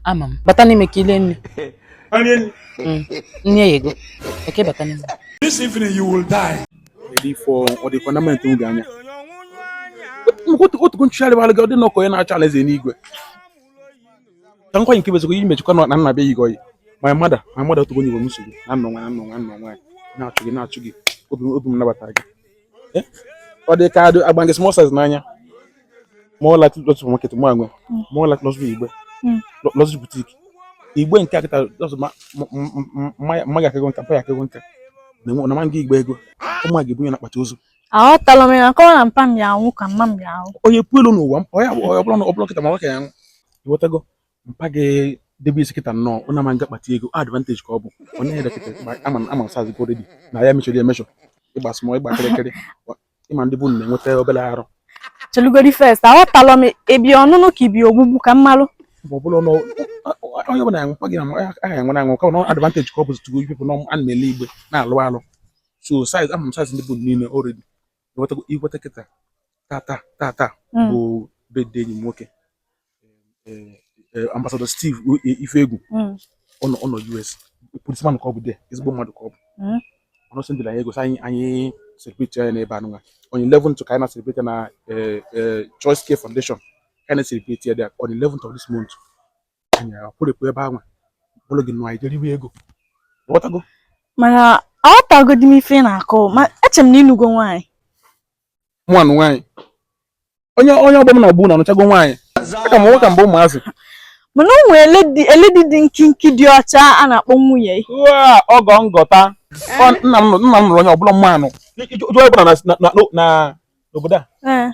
ama m bata n'ime ka i lie nri mm. nri eyego eke bata n'ime this evening you will die ọ dịkwa na mente oge anya otugo nchụgharị bara gị ọ dị na ọkọ ya na-achọ alaeze n'igwe ka nkwa nke bezikwa iji mechikwa na nna be yigo yi ma mada ma mada otugo nyigwe m nsogbu na nnọ nwa na nnọ nwa nnọ nwa na-achụ gị na-achụ gị obi m nabata gị ọ dị ka agba ndị small size n'anya more likely not to market mụ anwe more likely not to igbe not to boutique igbe nkịta ọsọ mma ya akego nka mpa ya akego nka na ma nga igbe ego ụmụ gị bunye na akpati ozu aghọtala m ya kọwa na mpa m ya anwụ ka mma m ya anwụ onye puelu n'ụwa ọ ya ọ bụrụ na ọ bụrụ nkịta ma nwoke ya anwụ ịghọtago mpa gị debe isi nkịta nnọọ ọ na-ama m ga-akpata ego advantage ka ọ bụ ọ na-ere nkịta ama ama sazi gị already na ya mechọrọ emechọ ịgba small ịgba kịrịkịrị ịma ndị bụ na-enweta obere arụ chelugodi first aghọtalọ m ebi ọnụnụ ka ibi ogbugbu ka m malụ ọ bụla ọnụ onye ọbụla ya nwekwa gị na aha enwere anwụ ka ọ advantage ka ọ bụzi tugo ipepụ na a na-ele igbe na-alụ alụ so size ama m size ndị bụ niile already iweta nkịta tata tata bụ birthday enyi m nwoke eh, eh, ambassador Steve Ifeegwu mm. ọ nọ US policeman ka ọ bụ de ezigbo mmadụ ka ọ bụ mm. ọ nọsị ndị na anyị egosi anyị anyị celebrate ya n'ebe anụnwa on 11th ka anyị na celebrate na eh, Choice Care Foundation ka anyị na celebrate ya on 11th of this month anyị akwụrịpụ ebe anwa bụrụ gị nụ anyị jere iwe ego ị ghọtago mana aghọtagodi m ife ị na-akọ ma eche m na ị nụgo nwaanyị mụ anụ nwaanyị onye onye ọgbọ m na-agbu na anụchago nwaanyị aka m nwoke mgbe ụmụazị mana o nwere lady dị nkinki dị ọcha a na-akpọ nwunye ọgọ ngọta nna m nna m nụrụ onye ọbụla manụ jụọ ọbụla n'obodo a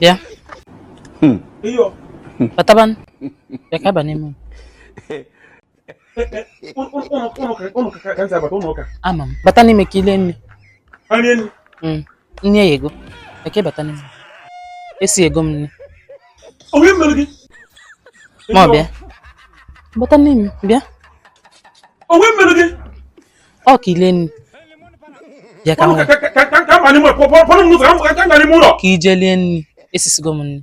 Bịa. Hmm. Batabanụ. Bịa ka a baa n'ime. Ama m. Bata n'ime ka i lie nni. Hmm. Nri eyego. Eke bata n'ime. Esigo m nri. Onye mere gị? Ma ọ bịa. Bata n'ime, bịa. Onye mere gị? Ọ ka i lie nri. Bịa ka m wee. Ka i je lie nri. Esisigo m nri.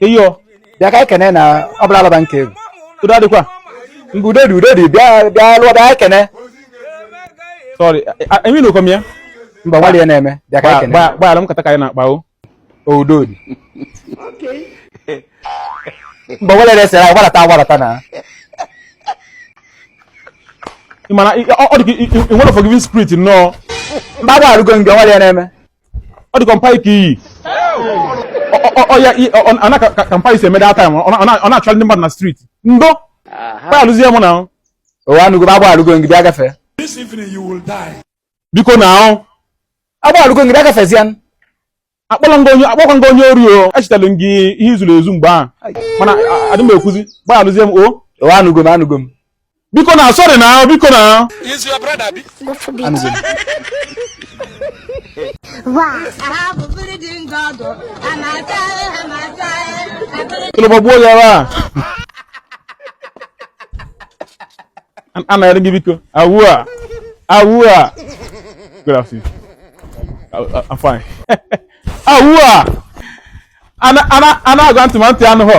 iyo bịa ka ekene na ọ bụla alaba nke egwu udo adịkwa mgbe udo dị udo dị bịa bịa lụọ bịa ekene sorry enyi na okom ya mba nwalie na-eme bịa ka ekene gbaghara m kata ka anyị na-akpa o udo dị mgbe nwere resịrị anyị gbarata agbarata na mana ọ dị ka ị nwere forgiving spirit nnọọ mgbe agwa arụgo nke nwere ya na-eme ọ dịkwa mpa ike iyi ọya ana ka mpa isi emeda time ọ na-achọ ndị mmadụ na street ndo gbaghalụzie mụ na ụwa anụgo agbaghalụgo m gị ị na-agafe biko na ahụ agbaghalụgo m gị ị na-agafezie akpọla m gị onye akpọkwa m gị onye ori o echetara m gị ihe i zuru ezu mgbe ahụ mana adị m ekwuzi gbaghalụzie m o ụwa anụgo m anụgo m biko na sorry na biko na is your brother bi go for big kilo ba boya ba ana yarin biko awua awua good afternoon i'm fine awua ana ana ana agwa ntị ma ntị anụ hụ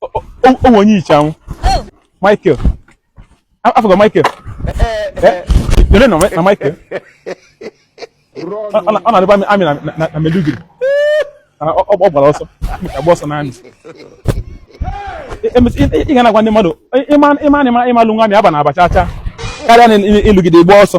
o nwe onye i che anwụ Michael afụgo Michael ele nna Michael ọ na-adịbu army na Maiduguri ọ gbara ọsọ agba ọsọ na army ị ga na-agwa ndị mmadụ ị ma na ị ma ị ma lụnwu army abana aba cha cha karịa na ị lụgide gbaa ọsọ